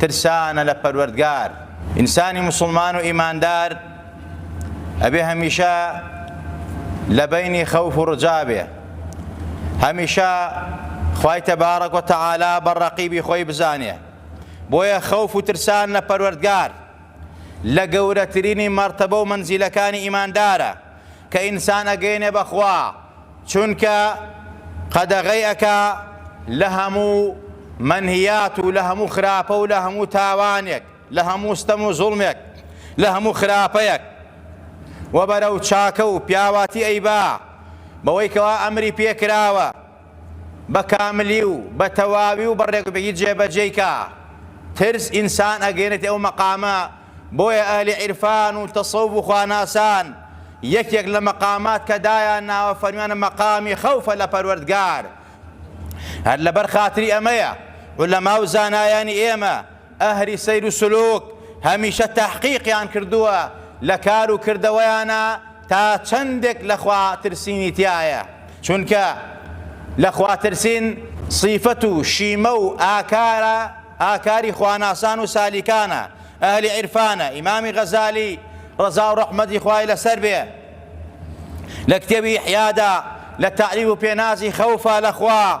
ترسانە لە پەروەردگار. ئینسانی موسڵمان و ئیماندار ئەبێ هەمیشە لە بەینی خەوف و ڕجا بێ، هەمیشە خوای تەبارەک و تەعالا بە ڕەقیبی خۆی بزانێ، بۆیە خەوف و ترسان لە پەروەردگار لە گەورەترینی مەرتەبە و مەنزیلەکانی ئیماندارە. کە ئینسان ئەگەیەنێ بە خوا چونکە قەدەغەی ئەکا لە هەموو مەنهیات و لە هەموو خراپە و لە هەموو تاوانێک لە هەموو ستەم و زوڵمێک لە هەموو خراپەیەک وە بەرەو چاکە و پیاواتی ئەیبا بەوەی کەوا ئەمری پێکراوە بەکاملی و بەتەواوی و بەڕێکوپێکی جێبەجێی کا. ترس ئینسان ئەگەیەنێتە ئەو مەقامە، بۆیە ئەهلی عیرفان و تەسەوف و خواناسان یەکێک لە مەقامات کە دایان ناوە فەرمیانە مەقامی خەوفە لە پەروەردگار. هەر لەبەر خاتری ئەمەیە عولەما و زانایانی ئێمە ئەهلی سەیر و سلوک هەمیشە تەحقیقیان کردووە لە کار و کردەوەیانا تا چەندێک لە خوا ترسینی تیایە چونکە لە خوا ترسین سیفەت و شیمە و ئاکارە ئاکاری خواناسان و سالیکانە ئەهلی عیرفانە ئیمامی غەزالی ڕەزا و ڕەحمەتی خوای لەسەر بێ لە کتێبی ئیحیادا لە تەعریب و پێنازی خەوفا لە خوا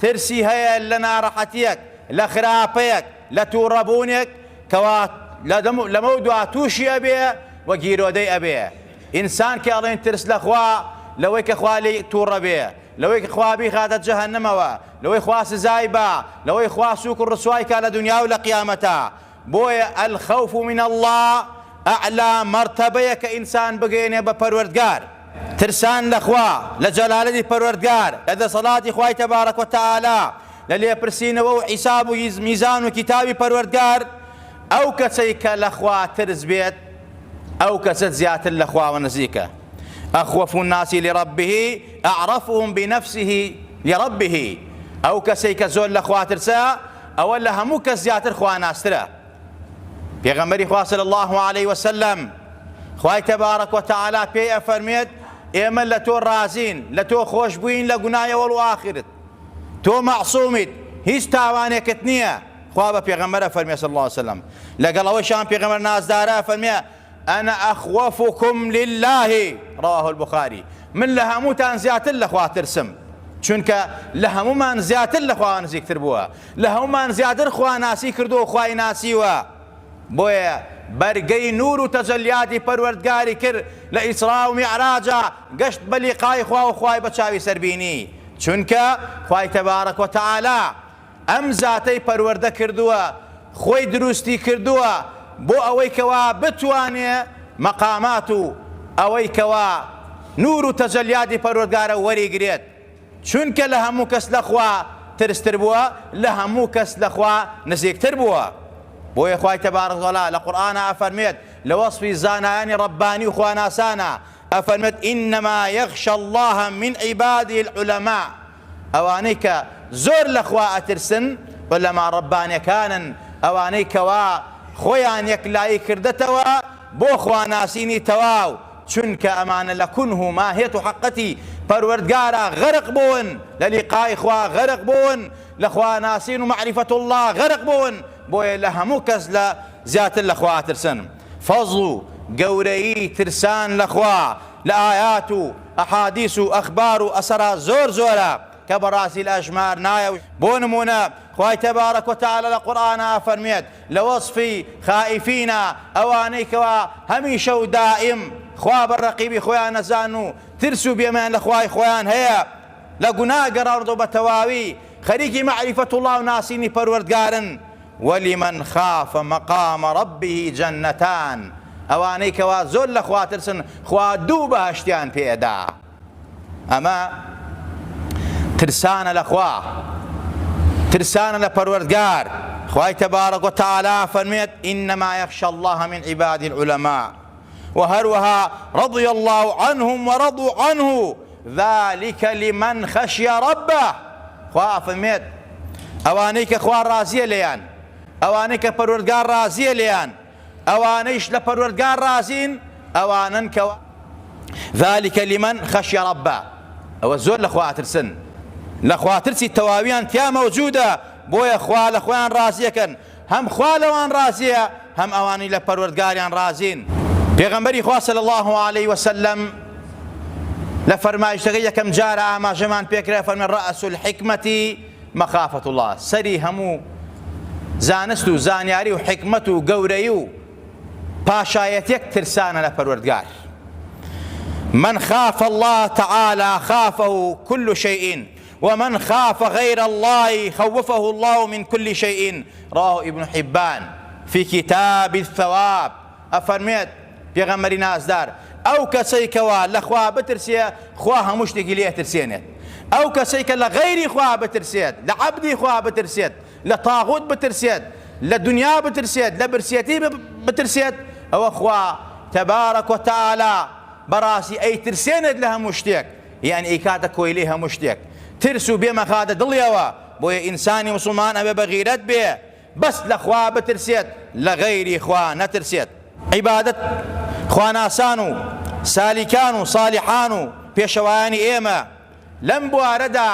ترسی هەیە لە ناڕەحەتییەک، لە خراپەیەک، لە توڕەبوونێک کەوا لەمەودوا تووشی ئەبێ و گیرۆدەی ئەبێ. ئینسان کە ئەڵێن ترس لە خوا، لەوەی کە خوا لێی توڕە بێ، لەوەی کە خوا بیخاتە جەهەنەمەوە، لەوەی خوا سزای با، لەوەی خوا سووک و ڕسوای کا لە دونیا و لە قیامەتا. بۆیە الخوف من اللە اعلی مەرتەبەیە کە ئینسان بگەیەنێ بە پەروەردگار، ترسان لە خوا، لە جەلالەتی پەروەردگار، لە دەسەڵاتی خوای تبارک و تعالی، لە لێپرسینەوە و حیساب و میزان و کیتابی پەروەردگار، ئەو کەسەی کە لە خوا ترس بێت ئەو کەسە زیاتر لە خواوە نزیکە، اخوف الناس لربه اعرفهم بنفسه لربه، ئەو کەسەی کە زۆر لە خوا ترسە، ئەوە لە هەموو کەس زیاتر خواناسترە پێغەمبەری خوا صلی الله علیه و سلم خوای تبارک و تعالی پێی ئەفەرمێت ئێمە لە تۆ ڕازین لە تۆ خۆش بووین لە گوناهی ئەوەڵ و ئاخرت تۆ مەعصومیت هیچ تاوانێکت نییە خوا بە پێغەمبەر ئەفەرمێ صلی الله علیه و سلم لەگەڵ ئەوەشان پێغەمبەر نازدارە ئەفەرمێ انا اخوفکم للە، رواه البخاری، من لە هەمووتان زیاتر لە خوا ترسم، چونکە لە هەموومان زیاتر لە خواوە نزیکتر بووە، لە هەموومان زیاتر خوا ناسی کردووە و خوای ناسیوە، بۆیە بەرگەی نور و تەجەلیاتی پەروەردگاری کرد لە ئیسرا و میعراجا گەشت بە لیقای خوا و خوای بە چاوی سەر بینی، چونکە خوای تبارک و تعالی، ئەم زاتەی پەروەردە کردووە خۆی دروستی کردووە بۆ ئەوەی کەوا بتوانێ مەقامات و ئەوەی کەوا نور و تەجەلیاتی پەروەردگارە وەری گرێت چونکە لە هەموو کەس لە خوا ترس تر بووە لە هەموو کەس لە خوا نزیک تر بووە بۆیە خوای تبارک وتعالی لە قورئانا ئەفەرمێت لە وەسفی زانایانی ربانی و خواناسانا ئەفەرمێت انما یخشی اللە من عباده العلماء ئەوانەی کە زۆر لە خوا ئەترسن عولەما ڕەبانەکانن، ئەوانەی کەوا خۆیان یەکلایی کردەتەوە بۆ خواناسینی تەواو، چونکە ئەمانە لە کونه و ماهیەت و حەققەتی پەروەردگارا غەرق بوون، لە لیقای خوا غەرق بوون، لە خواناسین و مەعریفەت اللە غەرق بوون، بۆیە لە هەموو کەس لە زیاتر لە خوا ئەترسن. فەزڵ و گەورەیی ترسان لە خوا. لە ئایات و ئەحادیس و ئەخبار و ئەسەرا زۆر زۆرە کە بەڕاستی لە ئەژمار نایە و بۆ نموونە خوای تبارک و تعالی لە قورئانا ئەفەرموێت لە وەسفی، خائیفینا، ئەوانەی کەوا هەمیشە و دائیم خوا بە رەقیبی خۆیان نەزان و ترس و بێمەیان لە خوای خۆیان هەیە لە گوناه گەڕاونەتەوە بە تەواوی خەریکی مەعریفەتوڵڵا و ناسینی پەروەردگارن ولمن خاف مقام ربه جنتان ئەوانەی کەوا زۆر لە خوا ترسن خوا دوو بەهەشتیان پێ ئەدا ئەمە ترسانە لە خوا ترسانە لە پەروەردگار خوای تبارک و تعالی فەرمێت انما یخشى الله من عباد العلماء و هەروەها رضی الله عنهم ورضوا عنه ذلک لمن خشی ربە، خوا ئەفەرمێت، ئەوانەی کە خوا ڕازییە لێیان، ئەوانەی کە پەروەردگار ڕازییە لێیان، ئەوانەیش لە پەروەردگار ڕازین، ئەوانەن کە ذلک لمن خشی ربە، ئەوە زۆر لە خوا ئەترسن، لە خواترسی تەواویان تیا مەوجودە، بۆیە خوا لە خۆیان ڕازییەکەن، هەم خوا لەوان ڕازیە هەم ئەوانی لە پەروەردگاریان ڕازین پێغەمبەری خوا صلی الله علیه وسلم لە فەرمایشتەکە یەکەم جارە ئاماژەمان پێکرا فەرمە ڕەس الحکمەتی مەخافەت الله سەری هەموو زانست و زانیاری و حکمت و گەورەی و پاشایەتێک ترسانە لە پەروەردگار من خاف الله تعالى خافه كل شيء ومن خاف غیر اللە خوفه اللە من کل شیء، رواه ابن حبان فی کتاب الثواب، ئەفەرموێت، پێغەمبەری نازدار، ئەو کەسەی کەوا لە خوا بترسێ خوا هەموو شتێکی لێ ئەترسێنێت، ئەو کەسەی کە لە غەیری خوا بترسێت، لە عەبدی خوا بترسێت، لە طاغوت بترسێت، لە دنیا بترسێت، لە برسێتی بترسێت، ئەوە خوا تبارک و تعالی بەڕاستی ئەیترسێنێت لە هەموو شتێک، یان ئەیکاتە کۆیلەی هەموو شتێک ترس و بێ مەخادە دڵیەوە بۆیە ئینسانی موسڵمان ئەبێ بە غیرەت بێ بەس لە خوا بترسێت لە غەیری خوا نەترسێت عیبادەت خواناسان و سالیکان و سالیحان و پێشەوایانی ئێمە لەم بوارەدا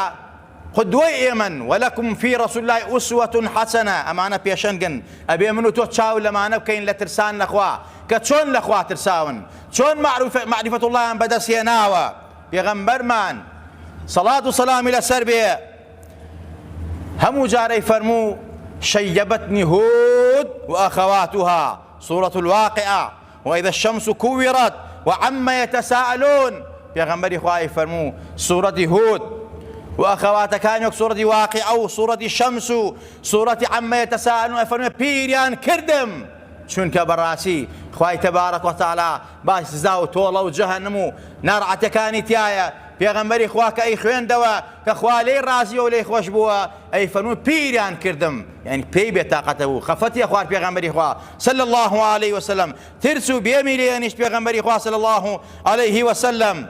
خۆ دوای ئێمەن، ولکم فی رسول اللە اسوە حسنە، ئەمانە پێشەنگن، ئەبێ من و تۆ چاو لەمانە بکەین لە ترسان لە خوا، کە چۆن لە خوا ترساون، چۆن مەعریفەت اللەیان بەدەست هێناوە، پێغەمبەرمان، صلات و سەلامی لەسەر بێ، هەموو جارەی فەرموو، شیبتنی هود و اخواتها، سورە الواقعە. وإذا الشمس كورت وعما يتساءلون پێغەمبەری خوا ئەیفەرموو سوورەتی هود و ئەخەواتەکان وەک سوورەتی واقعە و سوورەتی شەمس و سوورەتی عما يتساءلون ئەفەرموێ پیریان کردم چونکە بەڕاستی خوای تەبارەک وتەعالا باسی سزا و تۆڵە و جەهەنم و ناڕەحەتەکانی تایە پێغەمبەری خوا کە ئەیخوێندەوە کە خوا لێی ڕازییە و لێی خۆش بووە ئەی فەرموو پیران کردم یانی پێی بێتاقەتە بوو خەفەتی خوارد پێغەمبەری خوا صلی اللە علیه وسلم ترس و بێمی لێنیشت پێغەمبەری خوا صلی اللە علیه وسلم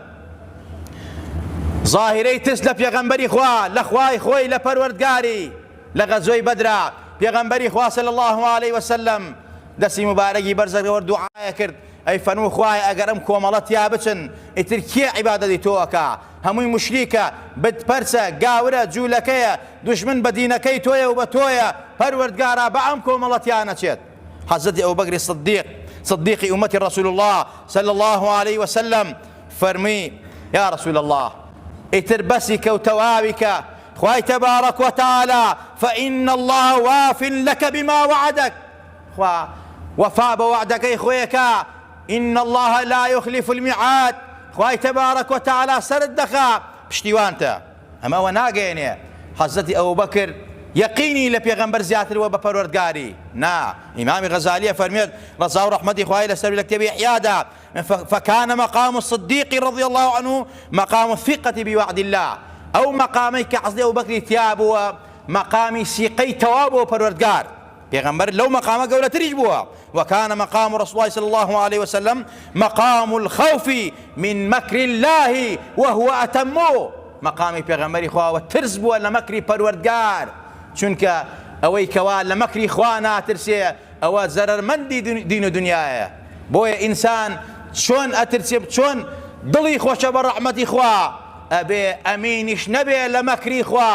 ظاهرەی ترس لە پێغەمبەری خوا لە خوای خۆی لە پەروەردگاری لە غەزۆی بەدرا پێغەمبەری خوا صلی اللە علیه وسلم دەسی مبارەکی بەرزەکەوە دوعاە کرد ئەی فەنوو خوای ئەگەر ئەم کۆمەڵەتیا بچن ئیتر کێ عیبادەتی تۆ ئەکا هەمووی موشریکە، بت پەرسە، گاورە، جولەکەیە، دوژمن بە دینەکەی تۆیە و بە تۆیە، پەروەردگارا بە ئەم کۆمەڵە تیانەچێت. حەزرەتی ئەبوبەکری صدیق، صدیقی ئومەتی رسول اللە صلی اللە علیە وسلم، فەرموی، یا رسول اللە ئیتر بەسیکە و تەواویکە، خوای تبارک و تعالی، فان اللە واف لک بما وعدک، خوا وەفا بە وەعدەکەی خۆی ئەکا، ان اللە لا یخلف المیعاد خوای تبارک و تعالی سەرت دەخا پشتیوانتە ئەمە ئەوە ناگەیەنێ حضرت ابوبکر یەقینی لە پێغەمبەر زیاتر بووە بە پەروەردگاری نا امام غزالی ئەفەرموێت ڕەزا و ڕەحمەتی خوای لەسەر لە کتێبی احیادا فکان مقام الصدیق رضی الله عنه مقام الثقة بوعد الله ئەو مقامەی کە حضرت ابوبکری تیا بووە مقامی سیقەی تەواو بۆ پەروەردگار پێغەمبەر لەو مەقامە گەورەتریش بووە، وکان مقام رسول اللە صلی اللە علیە وسلم مقام الخوف من مکر اللە وهو اتم، مەقامی پێغەمبەری خوا وە ترس بووە لە مەکری پەروەردگار، چونکە ئەوەی کەوا لە مەکری خوا ناترسێ ئەوە زەرەرمەندی دین و دنیایە، بۆیە ئینسان چۆن ئەترسێ چۆن دڵی خۆشە بە رەحمەتی خوا ئەبێ ئەمینیش نەبێ لە مەکری خوا،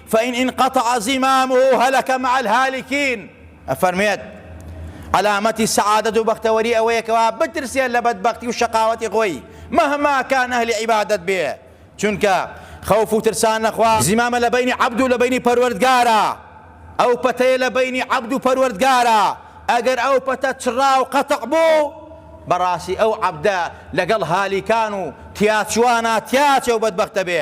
فان انقطع زمامه هلک مع الهالکین ئەفەرموێت عەلامەتی سەعادەت و بەختەوەری ئەوەیە کەوا بترسێت لە بەدبەختی و شەقاوەتی خۆی مەهما کان ئەهلی عیبادەت بێ چونکە خەوف و ترسان لەخوا زمامە لە بەینی عەبد و لە بەینی پەروەردگارە ئەو پەتەیە لە بەینی عەبد و پەروەردگارە ئەگەر ئەو پەتە چڕا و قەتع بوو بەڕاستی ئەو عەبدە لەگەڵ هالیکان و تیاچووانا تیاچە و بەدبەختە بێ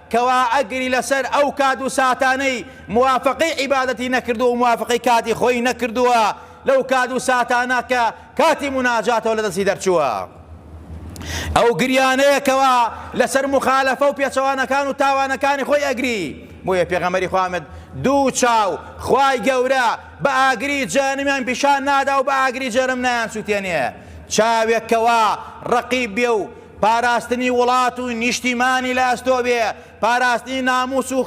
کوا ئەگری لەسەر ئەو کات و ساتانەی موافەقەی عیبادەتی نەکردووە و موافەقەی کاتی خۆی نەکردووە لەو کات و ساتانە کە کاتی موناجاتەوە لە دەستی دەرچووە ئەو گریانەیە کەوا لەسەر مخالەفە و پێچەوانەکان و تاوانەکانی خۆی ئەگری بۆیە پێغەمەری خوامد دوو چاو خوای گەورە بە ئاگری جەهەنمیان پیشان نادا و بە ئاگری جەرم نایان سووتێنێ چاوێک کەوا ڕەقیب بێ و پاراستنی وڵات و نیشتیمانی لە ئەستۆ بێ، پاراستنی ناموس و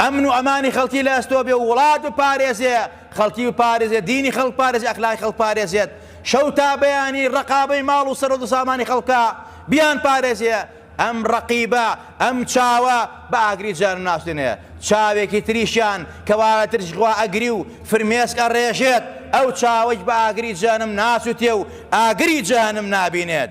ئەمن و ئەمانی خەڵکی لە ئەستۆ بێ و وڵات بپارێزێ، خەڵکی بپارێزێ، دینی خەڵک بپارێزێ، ئەخلاقی خەڵک بپارێزێت، شەو تا بەیانی ڕەقابەی ماڵ و سەروەت و سامانی خەڵکە، بیانپارێزێ. ئەم ڕەقیبە، ئەم چاوە بە ئاگری جەهەنم ناسوتێنێ، چاوێکی تریشیان کە وا لە ترسی خوا ئەگری و فرمێسک ئەڕێژێت، ئەو چاوەیش بە ئاگری جەهەنم ناسوتێ و ئاگری جەهەنم نابینێت.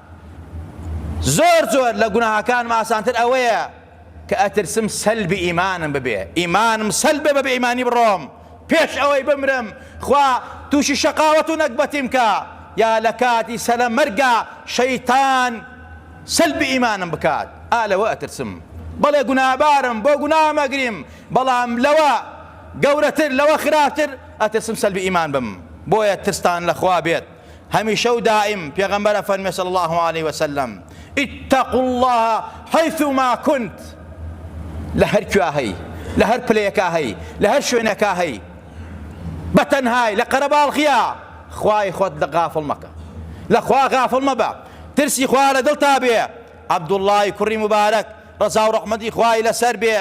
زۆر زۆر لە گوناهەکانم ئاسانتر ئەوەیە کە ئەترسم سەلبی ئیمانم ببێ ئیمانم سەلب بێ بە بێ ئیمانی بڕۆم پێش ئەوەی بمرم خوا تووشی شەقاوەت و نەگبەتیم کە یا لە کاتی سەلە مەرگا شەیتان سەلبی ئیمانم بکات ئا لەوە ئەترسم بەڵێ گوناهبارم بۆ گوناهم ئەگریم بەڵام لەوە گەورەتر لەوە خراپتر ئەترسم سەلبی ئیمان بم بۆیە ترستان لە خوا بێت هەمیشە و دائیم پێغەمبەر ئەفەرموێ صلی اللە علیە وسلم، اتقوا اللە حیثما کنت لە هەر کوێا هەی لە هەر پلەیەکا هەی لە هەر شوێنێکا هەی بە تەنهای لە قەرەباڵغیا خوای خۆت لە غافڵ مەکە لە خوا غافڵ مەبە ترسی خوا لە دڵتا بێ عەبدوڵڵای کوڕی مبارەک ڕەزا و ڕەحمەتی خوای لەسەر بێ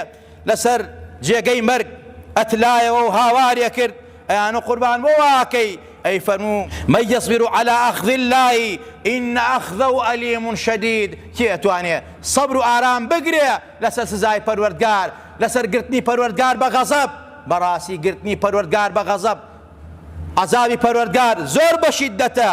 لەسەر جێگەی مەرگ ئەتلایەوە و هاوارێ کرد، ئەیانۆ قوربان بۆ وا ئەکەی؟ ئەی فەرموو، من یەسبر علی اخذ اللە ان اخذه الیم شدید، کێ ئەتوانێ سەبر و ئارام بگرێ لەسەر سزای پەروەردگار، لەسەر گرتنی پەروەردگار بە غەزەب، بەڕاستی گرتنی پەروەردگار بە غەزەب، عەزابی پەروەردگار، زۆر بە شیددەتە.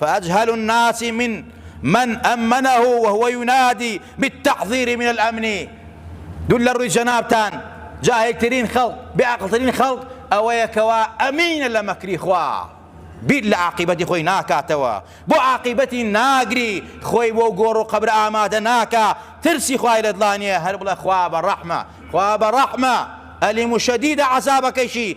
فاجهل الناس من من امنه وهو ينادی بالتحضیر من الامن دول لە ڕووی جەنابتان جاهلترین خەڵق بێ عەقڵترین خەڵق ئەوەیە کەوا ئەمینە لە مەکری خوا بیر لە عاقیبەتی خۆی ناکاتەوە بۆ عاقیبەتی ناگری خۆی بۆ گۆڕ و قەبر ئامادە ناکا ترسی خوای لە دڵانیە هەر بڵە خوا بە ڕەحمە خوا بە ڕەحمە ئەلیم و شەدیدە عەزابەکەیشی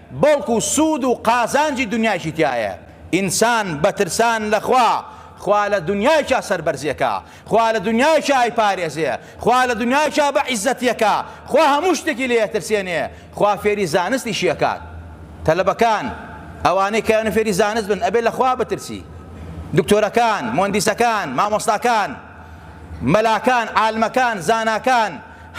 بەڵکو سوود و قازانجی دونیایشی تیایە، ئینسان بە ترسان لە خوا، خوا لە دونیایشا سەربەرزی ئەکا، خوا لە دونیایشا ئەیپارێزێ، خوا لە دونیایشا بە عیززەتی ئەکا، خوا هەموو شتێکی لێ ئەترسێنێ، خوا فێری زانستیشی ئەکات. تەلەبەکان، ئەوانەی کە ئەیەوێ فێری زانست بن، ئەبێ لە خوا بترسی. دکتۆرەکان، موەندیسەکان، مامۆستاکان، مەلاکان، عالمەکان، زاناکان،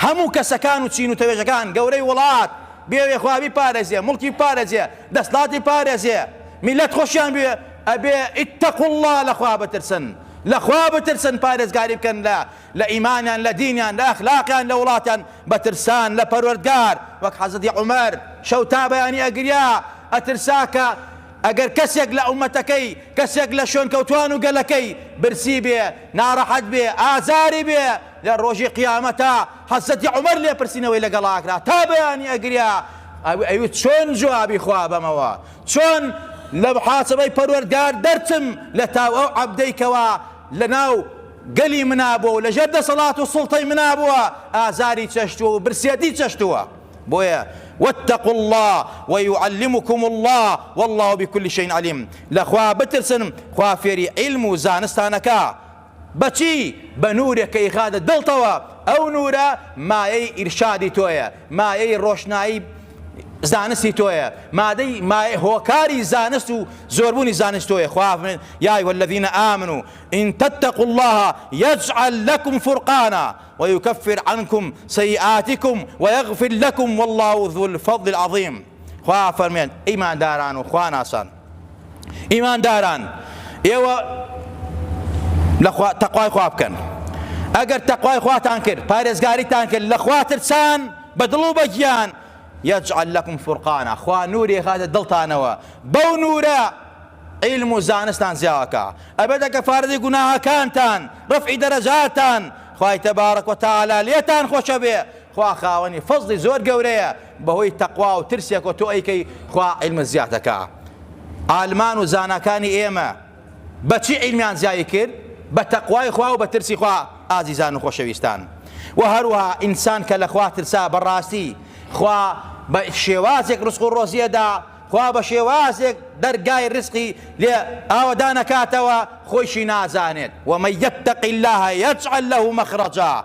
هەموو کەسەکان و چین و تەوێژەکان، گەورەی وڵات بێوێ خوا بیپارێزێ، موڵکی بپارێزێ، دەسڵاتی بپارێزێ، میللەت خۆشیان بوێ، ئەبێ اتقوا اللە لە خوا بترسن، لە خوا بترسن پارێزگاری بکەن لە لە ئیمانیان، لە دینیان، لە ئەخلاقیان، لە وڵاتیان، بە ترسان لە پەروەردگار، وەک حەزرەتی عومەر شەو تا بەیانی ئەگریا، ئەترسا کە ئەگەر کەسێک لە ئومەتەکەی، کەسێک لە شوێنکەوتوان و گەلەکەی برسی بێ، ناڕەحەت بێ، ئازاری بێ، لە ڕۆژی قیامەتا حەزرەتی عومەر لێپرسینەوەی لەگەڵ ئاکرا تا بەیانی ئەگریا ئەوی ئەیوت چۆن جوابی خوا بەمەوە چۆن لە محاسبەی پەروەردگار دەرچم لە تاو ئەو عەبدەی کەوا لە ناو گەلی منا بووە و لە ژێر دەسەڵات و سوڵتەی منا بووە ئازاری چەشتووە و برسیەتی چەشتووە بۆیە واتقوا اللە ویعلمکم اللە واللە بکل شەین علیم لە خوا بترسن خوا فێری عیلم و زانستانەکا بەچی؟ بە نورێک کە یخاتە دڵتەوە، ئەو نورە مایەی ئیرشادی تۆیە، مایەی ڕۆشنایی زانستی تۆیە، مادەی مایە هۆکاری زانست و زۆربوونی زانست تۆیە، خوا فەرموێ، یا ایها الذین آمنوا ان تتقوا اللە یجعل لکم فرقانا ویکفر عنکم سیئاتکم ویغفر لکم واللە ذو الفضل العظیم خوا فەرموێ، ئیمانداران و خواناسان، ئیمانداران ئێوە لە خوا تەقوای خوا بکەن ئەگەر تەقوای خواتان کرد پارێزگاریتان کرد لە خوا ترسان بە دڵ و بە گیان یەجعل لەکم فرقانە خوا نوورێ خاتە دڵتانەوە بەو نورە علم و زانستان زیاوەکە ئەبێتە کە فارزی گوناهەکانتان ڕفعی دەرەجاتان خوای تەبارەک و تەعالا لێتان خۆشە بێ خوا خاوەنی فەزڵی زۆر گەورەیە بەهۆی تەقوا و ترسێکەوە تۆ ئەیکەی خوا عیلمت زیاد ئەکا عالمان و زاناکانی ئێمە بەچی عیلمیان زیایی کرد بە تەقوای خوا و بە ترسی خوا ئازیزان و خۆشەویستان و هەروها ئینسان کە لە خوا ترسا بەڕاستی خوا بە شێوازێک ڕسق و ڕۆزیەدا خوا بە شێوازێک دەرگای ڕسقی لێ ئاوەدان ئەکاتەوە خۆیشی نازانێت ومن یتق الله یجعل له مخرجا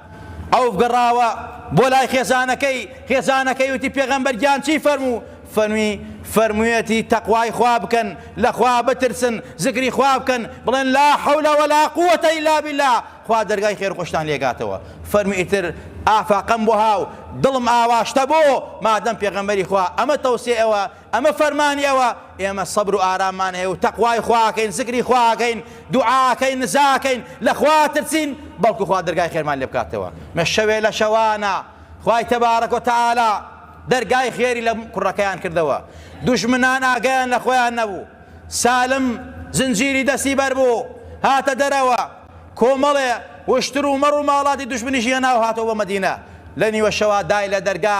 عەوف گەڕاوە بۆ لای خێزانەکەی، خێزانەکەی وتی، پێغەمبەر گیان چی فەرموو؟ فەرمی، فەرموویەتی، تەقوای خوا بکەن، لە خوا بترسن، زکری خوا بکەن، بڵێن، لا حول ولا قووەتە الا باللە، خوا دەرگای خێر و خۆشتان لێ گاتەوە. فەرمی، ئیتر ئافاقەم بۆ ها و دڵم ئاواشتە بۆ، مادەم پێغەمبەری خوا ئەمە تەوسیەی ئەوە ئەمە فەرمانی ئەوە، ئێمە سەبر و ئاراممان هەیە و تەقوای خوا ئەکەین، زکری خوا ئەکەین، دوعا ئەکەین، نزا ئەکەین، لە خوا ئەترسین، بەڵکو خوا دەرگای خێرمان لێ بکاتەوە. مە شەوێ لە شەوانە خوای تبارک و تعالی دەرگای خێری لە کوڕەکەیان کردەوە، دوژمنان ئاگایان لە خۆیان نەبوو، سالم زنجیری دەستی بەر بوو هاتە دەرەوە، کۆمەڵێ وشتر و مەڕ و ماڵاتی دوژمنیشی هێناو هاتەوە بۆ مەدینە، لە نیوە شەوا دای لە دەرگا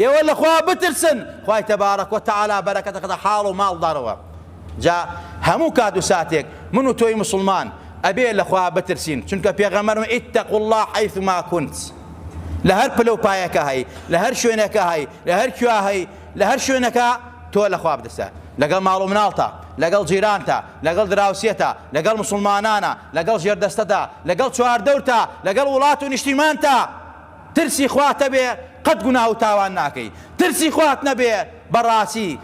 ئێوە لە خوا بترسن خوای تبارک و تعالی بەرەکەت دەخاتە حاڵ و ماڵدارەوە جا هەموو کات و ساتێک من و تۆی موسڵمان ئەبێ لە خوا بترسین چونکە پێغەمبەر فەرمووی اتقوا اللە حیثما کنت لە هەر پلە و پایەکە هەی لە هەر شوێنەکە هەی لە هەر کوێ هەی لە هەر شوێنەکە تۆ لە خوا بترسە لەگەڵ ماڵ و مناڵتە لەگەڵ جیرانتە لەگەڵ دراوسێتە لەگەڵ مسلمانانە لەگەڵ ژێردەستەتە لەگەڵ چواردەورتە لەگەڵ وڵات و نیشتیمانتە ترسی خوات هەبێ قەت گوناه و تاوان ناکەی ترسی خوات نەبێ بەڕاسی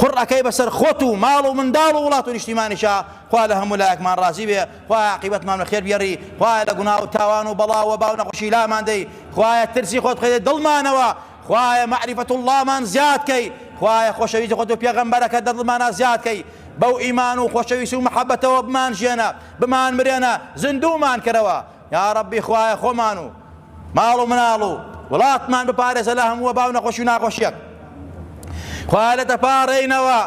قوڕ ئەکەی بەسەر خۆت و ماڵ و منداڵ و وڵات و نیشتیمانیشا خوا لە هەموو لایەکمان ڕازی بێ خوایە عاقیبەتمان بە خێر بگێڕی خوایە لە گوناه و تاوان و بەڵا و وەبا و نەخۆشی لامان دەی خوایە ترسی خۆت بخەیتە دڵمانەوە خوایە مەعریفەت اللەمان زیاد کەی خوایە خۆشەویستی خۆت و پێغەمبەرەکەت لە دڵمانا زیاد کەی بەو ئیمان و خۆشەویستی و مەحەبەتەوە بمانژێنە بمانمرێنە زیندوومان کەرەوە یاڕەبی خوایە خۆمان و ماڵ و مناڵ و وڵاتمان بپارێزە لە هەموو وەباو نەخۆشی و ناخۆشیەک خوایە لە دەپاڕێینەوە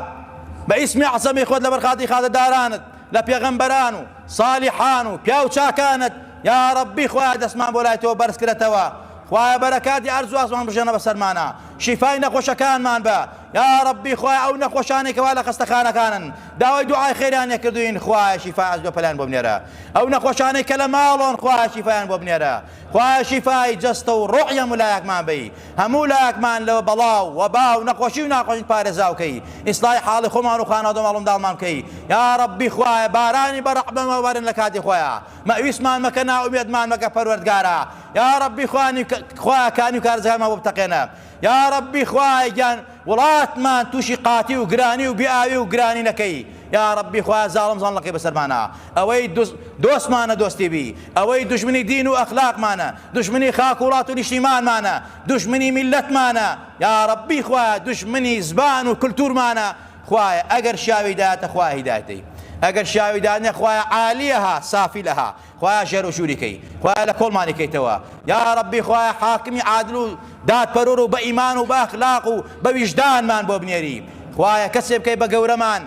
بە ئیسمی عەزەمی خۆت لەبەر خاتی خازەدارانت لە پێغەمبەران و ساڵیحان و پیاو چاکانت یا ڕەبی خوایە دەستمان بۆ لای تۆ بەرز کرێتەوە خوایە بەرەکاتی ئەرز و ئاسمان بژێنە بەسەرمانە شیفای نەخۆشەکانمان بە یا ڕەبی خوای ئەو نەخۆشانێکەوە لە خەستەخانەکانن داوای دوعای خێرانێ کردوین خوایە شیفای ئەرز بە پەلان بۆ بنێرە ئەو نەخۆشانەی کە لە ماڵۆن خوایە شیفایان بۆ بنێرە خوایە شیفای جەستە و ڕۆحی هەموو لایەکمان بەی هەموو لایەکمان لەوە بەڵا و وەبا و نەخۆشی و ناخۆشی پارێزاو کەی ئیسڵاحی حاڵی خۆمان و خانەوادە و ماڵومنداڵمان بکەی یا ڕەبی خوایە بارانی بە ڕەحمەوە بەرن لە کاتی خۆیا مەئویسمان مەکە نائومێدمان مەکە پەروەردگارا یا ڕەبی خوانی خوایە کانی و کارزەکانمان بۆ بتەقێنە یاڕەبی خوایە گیان وڵاتمان توشی قاتی و گرانی و بێ ئاوی و گرانی نەکەی یاڕەبی خوایە زاڵم زاڵنەکەی بەسەرمانا ئەوەی دوست دۆستمانە دۆستی بی ئەوەی دوژمنی دین و ئەخلاقمانە دوژمنی خاک وڵات و نیشتیمانمانە دوژمنی میلەتمانە یاڕەبی خوایە دوژمنی زبان و کلتورمانە خوایە ئەگەر شاوی دایەتە خوایە هیدایەتەی ئەگەر شاوی دانە خوایە عالیەها سافی لەها خوایە ژێر و ژووری کەی خوایە لە کۆڵمانی کەیتەوە یاڕەبی خوایە حاکمی عادل و دادپەروەر و بە ئیمان و بە ئەخلاق و بە ویژدانمان بۆ بنێری خوایە کەسێ بکەی بە گەورەمان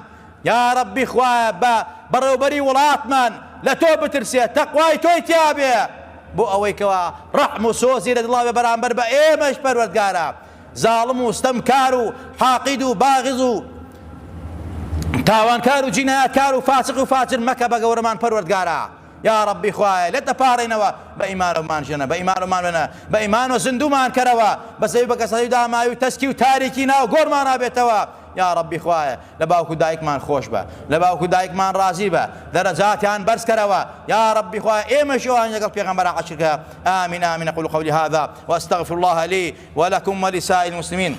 یاڕەبی خوایە بە بەڕێوبەری وڵاتمان لە تۆ بترسێ تەقوای تۆی تیابێ بۆ ئەوەی کەوا ڕەحم و سۆزی لە دڵاوێ بەرامبەر بە ئێمەش پەروەردگارە زاڵم و ستەمکار و حاقد و باغض و تاوانکار و جینایەتکار و فاسق و فاجر مەکە بە گەورەمان پەروەردگارا یا ڕەبی خوایە لێت دەپاڕێنەوە بە ئیمانەومان ژێنە بە ئیمانەومان وێنە بە ئیمانەوە زیندوومان کەرەوە بە زەوی بە کەسەتەی داماوی و تەسکی و تاریکی ناو گۆڕمانا بێتەوە یا ڕەبی خوایە لە باوک و دایکمان خۆشبە لە باوک و دایکمان ڕازی بە دەرەجاتیان بەرز کەرەوە یا ڕەبی خوایە ئێمەشی ئەوانی لەگەڵ پێغەمبەرا عەشر کە آمین آمین اقول قولی هذا واستغفر الله لی ولکم ولسائر المسلمین.